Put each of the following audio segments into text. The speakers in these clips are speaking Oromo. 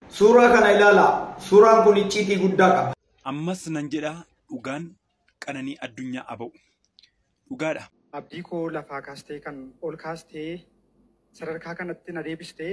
Suuraa kana ilaalaa. Suuraan kun icciitii guddaa qaba. Ammas nan jedha dhugaan qananii addunyaa aba'u. Dhugaadha. Abdii koo lafaa kaastee kan ol kaastee sadarkaa kanatti na deebistee.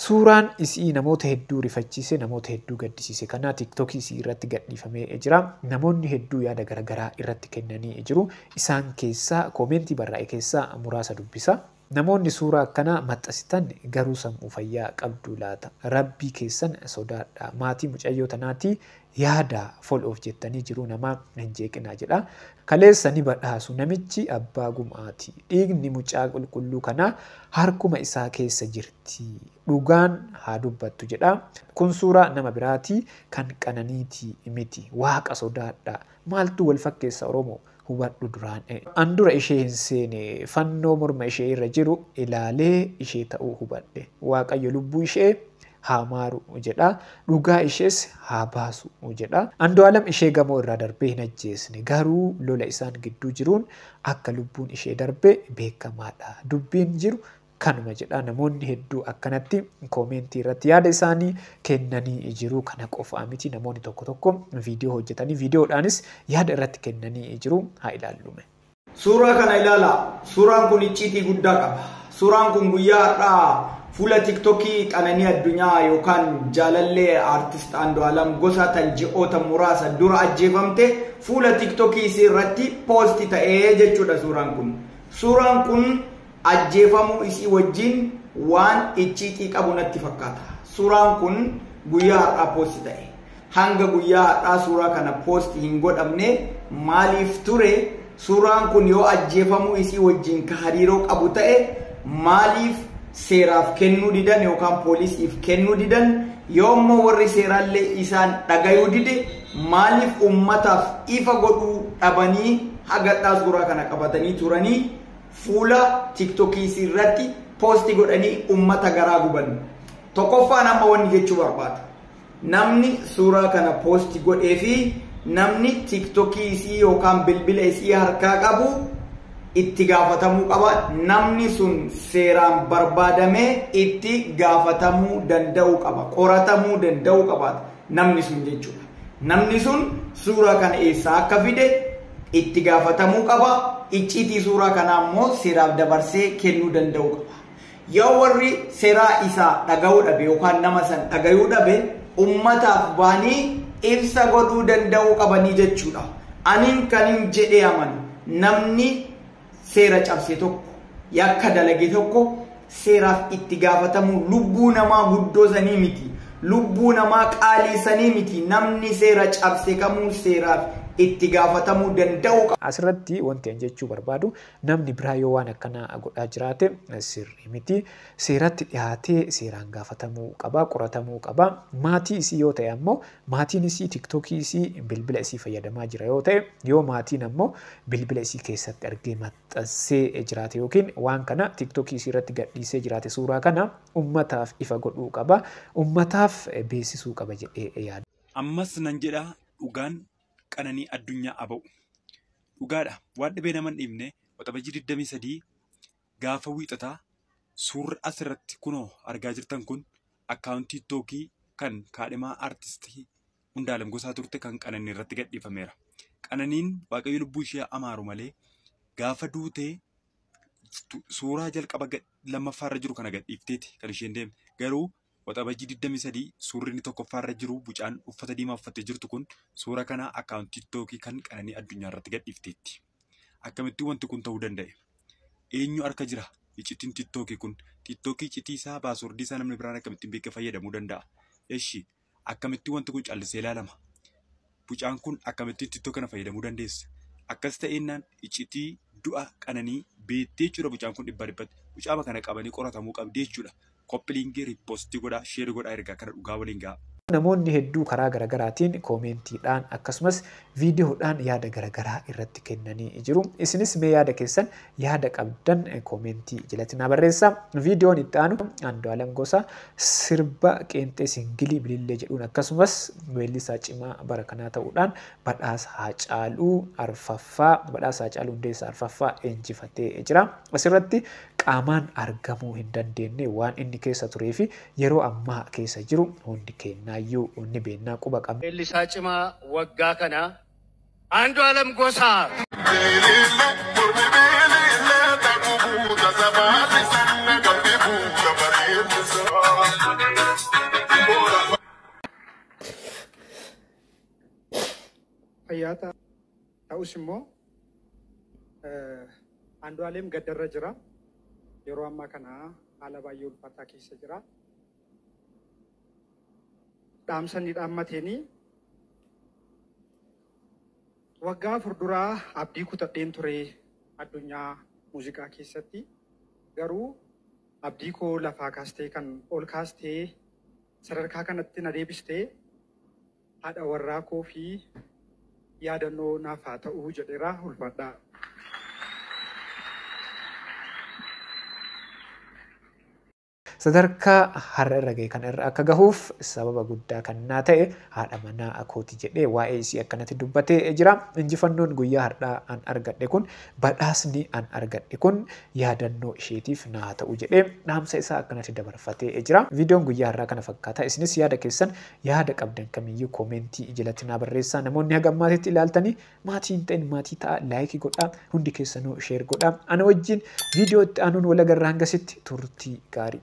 Suuraan isii namoota hedduu rifachiise, namoota hedduu gaddisiise kana TikTok isii irratti gadhiifamee jira. Namoonni hedduu yaada garagaraa irratti kennanii jiru. Isaan keessaa koomeentii barraa'e keessaa muraasa dubbisa. Namoonni suuraa akkanaa maxxasitan garuu sammuu fayyaa qabduu laata? Rabbii keessan sodaadhaa. Maatii mucayyoo tanaatii Yaadaa, foloof jettanii jiruu namaa hin jeeqinaa jedha. Kaleessa ni badhaasu namichi abbaa gum'aati. Dhiigni mucaa qulqulluu kanaa harkuma isaa keessa jirti. Dhugaan haa dubbattu jedha. Kun suuraa nama biraati kan Qananiiti miti. Waaqa sodaadhaa. Maaltu wal fakkeessa Oromoo? hubadhu duraan an dura ishee hin seene fannoo morma ishee irra jiru ilaalee ishee ta'uu hubadhe waaqayyo lubbuu ishee haa maaru jedha dhugaa ishees haa baasu jedha andu'aalam ishee gamoo irraa darbee hin ajjeesne garuu lola isaan gidduu jiruun akka lubbuun ishee darbe beekamaadha dubbiin jiru kanuma jedha namoonni hedduu akkanatti koomeentii irratti yaada isaanii kennanii jiru kana qofaa miti namoonni tokko tokko viidiyoo hojjetanii viidiyoodhaanis yaada irratti kennanii jiru haa ilaallume. Suuraa kana ilaala. Suuraan kun icciitii guddaa qaba. Suuraan kun guyyaa har'aa fuula tiktokii qananii addunyaa yookaan jaalallee aartist Andu'aalam Gosaa tan ji'oota muraasa dura ajjeefamte fuula tiktokii isii irratti poosti ta'ee jechuudha suuraan kun. Suuraan kun ajjeefamuu isii wajjiin waan icciitii qabu natti fakkaata. Suuraan kun guyyaa har'aa poosti ta'e. Hanga guyyaa har'aa suuraa kana poosti hin godhamne maaliif ture? Suuraan kun yoo ajjeefamuu isii wajjiin ka hariiroo qabu ta'e maaliif seeraaf kennuu didan yookaan poolisiif kennuu didan yoo immoo warri seeraallee isaan dhagayuu dide maaliif ummataaf ifa godhuu dhabanii hagadhaa suuraa kana qabatanii turanii Fuula tiktokiisiirratti posti godhanii ummata garaa guban. Tokkoffaan amma wanni jechuu barbaadu. Namni suuraa kana posti godhee fi namni tiktokii isii yookaan bilbila isii harkaa qabu itti gaafatamuu qaba. Namni sun seeraan barbaadamee itti gaafatamuu danda'uu qaba. Qoratamuu danda'uu qabaata. namni sun jechuudha. Namni sun suuraa kana eessaa akka fide itti gaafatamuu qaba. Icciitii suuraa kanaa immoo seeraaf dabarsee kennuu danda'uu qaba. Yoo warri seeraa isaa dhaga'uu dhabe yookaan nama san dhagayuu dhabe ummataaf baanii ibsa godhuu danda'uu qabanii jechuudha. Anin kanin jedhee amanu namni seera cabse tokko yakka dalage tokko seeraaf itti gaafatamuu lubbuu namaa guddoo sanii miti lubbuu namaa qaalii sanii miti namni seera cabse kamuu seeraaf itti gaafatamuu danda'uu qaba. Asirratti wanti an jechuu barbaadu namni biraa yoo waan akkanaa godhaa jiraate sirrii miti seeratti dhihaatee seeraan gaafatamuu qaba qoratamuu qaba maatii isii yoo ta'e ammoo Maatiin isii tiktokii isii bilbila isii fayyadamaa jira yoo ta'e, yoo maatiin ammoo bilbila isii keessatti argee maxxansee jiraate yookiin waan kana tiktokii isii irratti gadhiisee jiraate suuraa kana ummataaf ifa godhuu qaba, ummataaf beessisuu qaba jedhee yaada. Ammas nan jedha dhugaan qananii addunyaa aba'u. Dhugaadha waan dhibee nama hin dhiibne Waxabajjii 23 gaafa wiixataa suurri as irratti kunoo argaa jirtan kun akkaawuntii tiiktookii kan kaadhimaa artistii Hundaalem Gosaa turte kan Qananii irratti gadhiifameera. Qananiin waaqayyo lubbuu ishee amaaru malee gaafa duutee suuraa jalqaba lammaffaa irra jiru kana gadhiifteeti kan isheen deemte garuu Waxabajjii 23 suurri inni tokkoffaa irra jiru bucaan uffata diimaa uffattee jirtu kun suura kana akkaawuntii tiiktookii kan qananii addunyaa irratti gadhiifteetti. Akkamittuu wanti kun ta'uu danda'e? Eenyu harka jira? Iccitiin tiiktookii kun tiiktookii iccitii isaa paaswordii isaa namni biraan akkamittiin beekee fayyadamuu danda'a? Eshi akkamittuu wanti kun callisee ilaalama? Bucaan kun akkamitti ittoo kana fayyadamuu dandeessa? Akkas ta'ennaan iccitii du'a qananii beettee jechuudha bucaan kun dhibba dhibbatti. Bucaama kana qabanii qoratamuu qabdii jechuudha. Koppiliingii riippoostii godhaa sheeri godhaa ergaa kana dhugaa waliin ga'a. Namoonni hedduu karaa garagaraatiin koomeentiidhaan akkasumas viidiyoodhaan yaada garagaraa irratti kennanii jiru. Isinis mee yaada keessan yaada qabdan koomeentii jalatti naa barreessaa. Viidiyoon itti aanu Andu'aalem Gosaa sirba qeenxee singilii Bilillee jedhuun akkasumas weellisaa cimaa bara kanaa ta'uudhaan badhaasa Haacaaluu arfaffaa badhaasa Haacaaluu Hundeessaa arfaffaa injifatee jira. Asirratti qaamaan argamuu hin dandeenye waan inni keessa turee fi yeroo ammaa keessa jiru hundi keennaayyuu ni beennaa quba qabna. Weellisaa cimaa waggaa kanaa. Andu'alam Gosaa. fayyaa ta'a. Ta'us immoo Andu'aaleem gaddarra jira. Yeroo ammaa kana haala baay'ee ulfaataa keessa jira. Dhaamsa inni dhaammateen waggaa afur dura abdii kutadheen ture addunyaa muuziqaa keessatti. Garuu abdii koo lafaa kaastee kan ol kaastee sadarkaa kanatti na deebiste haadha warraa koo fi yaadannoo naaf haa ta'uu jedheera ulfaadhaa. Sadarkaa har'a irra gahe kana irra akka gahuuf sababa guddaa kan naa ta'e haadha manaa kooti jedhee waa'ee isii akkanatti dubbatee jira. Injifannoon guyyaa har'aa an argadhe kun, badhaasni an argadhe kun yaadannoo isheetiif naa haa ta'u jedhee dhaamsa isaa akkanatti dabarfatee jira. Viidiyoon guyyaa har'aa kana fakkaata. Isinis yaada keessan yaada qabdan kamiyyuu koomeentii jalatti naa barreessaa. Namoonni haga ammaatitti ilaaltanii Maatii hin ta'in maatii ta'aa like godhaa hundi keessanuu share godhaa ana wajjin video itti aanuun wal agarra hangasitti turtii gaarii.